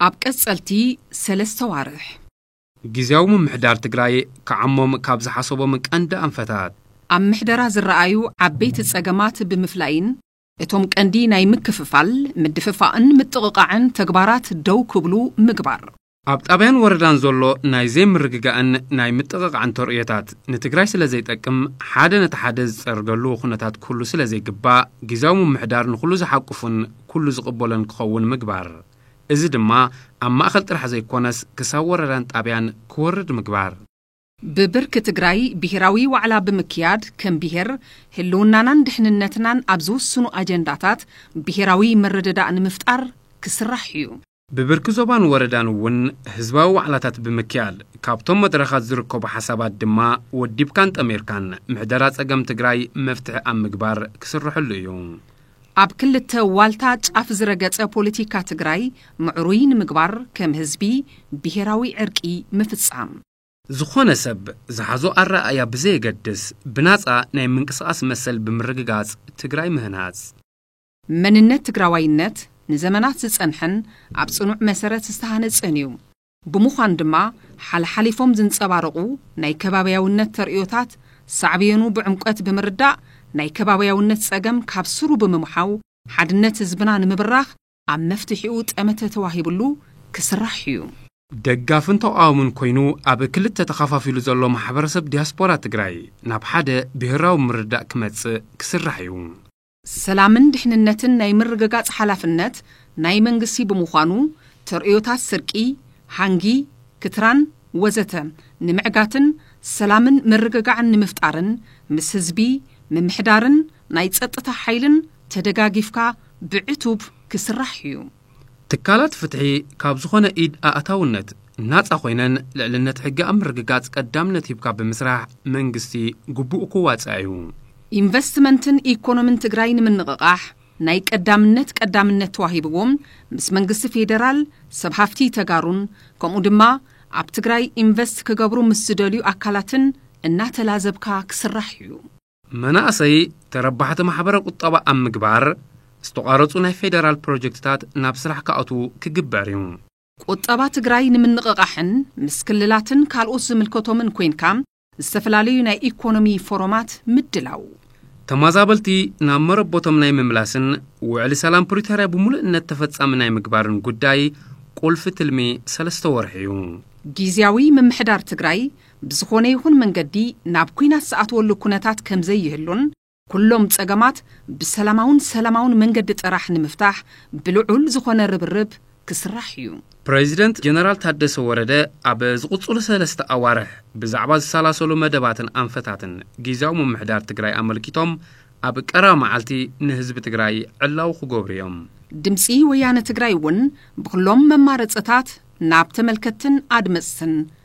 ኣብ ቀጸልቲ ሰለስተ ዋርሕ ግዜያዊ ምምሕዳር ትግራይ ክዓሞም ካብ ዝሓሰቦም ቀንዲ ኣንፈታት ኣብ ምሕደራ ዝረኣዩ ዓበይቲ ጸገማት ብምፍላይን እቶም ቀንዲ ናይ ምክፍፋል፣ ምድፍፋእን ምጥቕቓዕን ተግባራት ደው ክብሉ ምግባር። ኣብ ጣብያን ወረዳን ዘሎ ናይ ዘይምርግጋእን ናይ ምጥቕቓዕን ተርእዮታት ንትግራይ ስለ ዘይጠቅም ሓደ ነቲ ሓደ ዝፀርገሉ ኩነታት ክህሉ ስለ ዘይግባእ ጊዚያዊ ምምሕዳር ንኹሉ ዝሓቁፍን ኩሉ ዝቕበሎን ክኸውን ምግባር። እዚ ድማ ኣብ ማእኸል ጥራሕ ዘይኮነስ ክሳብ ወረዳን ጣብያን ክወርድ ምግባር። ብብርኪ ትግራይ ብሄራዊ ዋዕላ ብምክያድ ከም ብሄር ህልውናናን ድሕንነትናን ኣብ ዝውስኑ ኣጀንዳታት ብሄራዊ ምርድዳእ ንምፍጣር ክስራሕ እዩ። ብብርኪ ዞባን ወረዳን እውን ህዝባዊ ዋዕላታት ብምክያድ ካብቶም መድረኻት ዝርከቡ ሓሳባት ድማ ወዲብካን ጠሚርካን ምሕደራ ፀገም ትግራይ መፍትሒ ኣብ ምግባር ክስረሐሉ እዩ። ኣብ ክልተ ዋልታ ጫፍ ዝረገፀ ፖለቲካ ትግራይ ምዕሩይ ንምግባር ከም ህዝቢ ብሄራዊ ዕርቂ ምፍፃም። ዝኾነ ሰብ ዝሓዞ ኣረኣእያ ብዘየገድስ ብናፃ ናይ ምንቅስቓስ መሰል ብምርግጋፅ ትግራይ ምህናፅ። መንነት ትግራዋይነት ንዘመናት ዝፀንሐን ኣብ ፅኑዕ መሰረት ዝተሃነፀን እዩ። ብምዃኑ ድማ ሓለሓሊፎም ዝንፀባረቑ ናይ ከባብያውነት ተርእዮታት ሳዕቤኑ ብዕምቆት ብምርዳእ ናይ ከባብያውነት ፀገም ካብ ስሩ ብምምሓው ሓድነት ህዝብና ንምብራኽ ኣብ መፍትሒኡ ጠመተ ተዋሂብሉ ክስራሕ እዩ። ደጋፍን ተቓዋምን ኮይኑ ኣብ ክልተ ተኸፋፊሉ ዘሎ ማሕበረሰብ ዲያስፖራ ትግራይ ናብ ሓደ ብሄራዊ ምርድዳእ ክመፅእ ክስራሕ እዩ። ሰላምን ድሕንነትን ናይ ምርግጋፅ ሓላፍነት ናይ መንግስቲ ብምዃኑ ተርእዮታት ስርቂ፣ ሃንጊ፣ ክትራን ወዘተ ንምዕጋትን ሰላምን ምርግጋዕን ንምፍጣርን ምስ ህዝቢ ምምሕዳርን ናይ ጸጥታ ሓይልን ተደጋጊፍካ ብዕቱብ ክስራሕ ኢዩ። ትካላት ፍትሒ ካብ ዝኾነ ኢድ ኣእታውነት ናጻ ኮይነን ልዕልነት ሕጊ ኣብ ምርግጋጽ ቀዳምነት ሂብካ ብምስራሕ መንግስቲ ግቡኡ ክዋጻእ ኢዩ። ኢንቨስትመንትን ኢኮኖምን ትግራይ ንምንቕቓሕ ናይ ቀዳምነት ቀዳምነት ተዋሂብዎ ምስ መንግስቲ ፌደራል፣ ሰብ ሃፍቲ ተጋሩን ከምኡ ድማ ኣብ ትግራይ ኢንቨስት ክገብሩ ምስ ዝደልዩ ኣካላትን እናተላዘብካ ክስራሕ ኢዩ። መናእሰይ ተረባሕቲ ማሕበረ ቁጠባ ኣብ ምግባር ዝተቋረፁ ናይ ፌደራል ፕሮጀክትታት ናብ ስራሕ ክኣትዉ ክግበር እዩ። ቁጠባ ትግራይ ንምንቕቓሕን ምስ ክልላትን ካልኦት ዝምልከቶምን ኮይንካ ዝተፈላለዩ ናይ ኢኮኖሚ ፎረማት ምድላው። ተማዛበልቲ ናብ መረቦቶም ናይ ምምላስን ውዕሊ ሰላም ፕሪቶርያ ብሙሉእነት ተፈፃሚ ናይ ምግባርን ጉዳይ ቁልፊ ትልሚ ሰለስተ ወርሒ እዩ። ጊዚያዊ ምምሕዳር ትግራይ ብዝኾነ ይኹን መንገዲ ናብ ኲናት ዝኣትወሉ ኩነታት ከምዘይህሉን ኩሎም ፀገማት ብሰላማውን ሰላማውን መንገዲ ጥራሕ ንምፍታሕ ብልዑል ዝኾነ ርብርብ ክስራሕ እዩ። ፕረዚደንት ጀነራል ታደሰ ወረደ ኣብ ዝቕፅሉ ሰለስተ ኣዋርሕ ብዛዕባ ዝሰላሰሉ መደባትን ኣንፈታትን ጊዚያዊ ምምሕዳር ትግራይ ኣመልኪቶም ኣብ ቀረባ መዓልቲ ንህዝቢ ትግራይ ዕላዊ ክገብሩ እዮም። ድምፂ ወያነ ትግራይ እውን ብኹሎም መማረፅታት ናብ ተመልከትትን ኣድመፅትን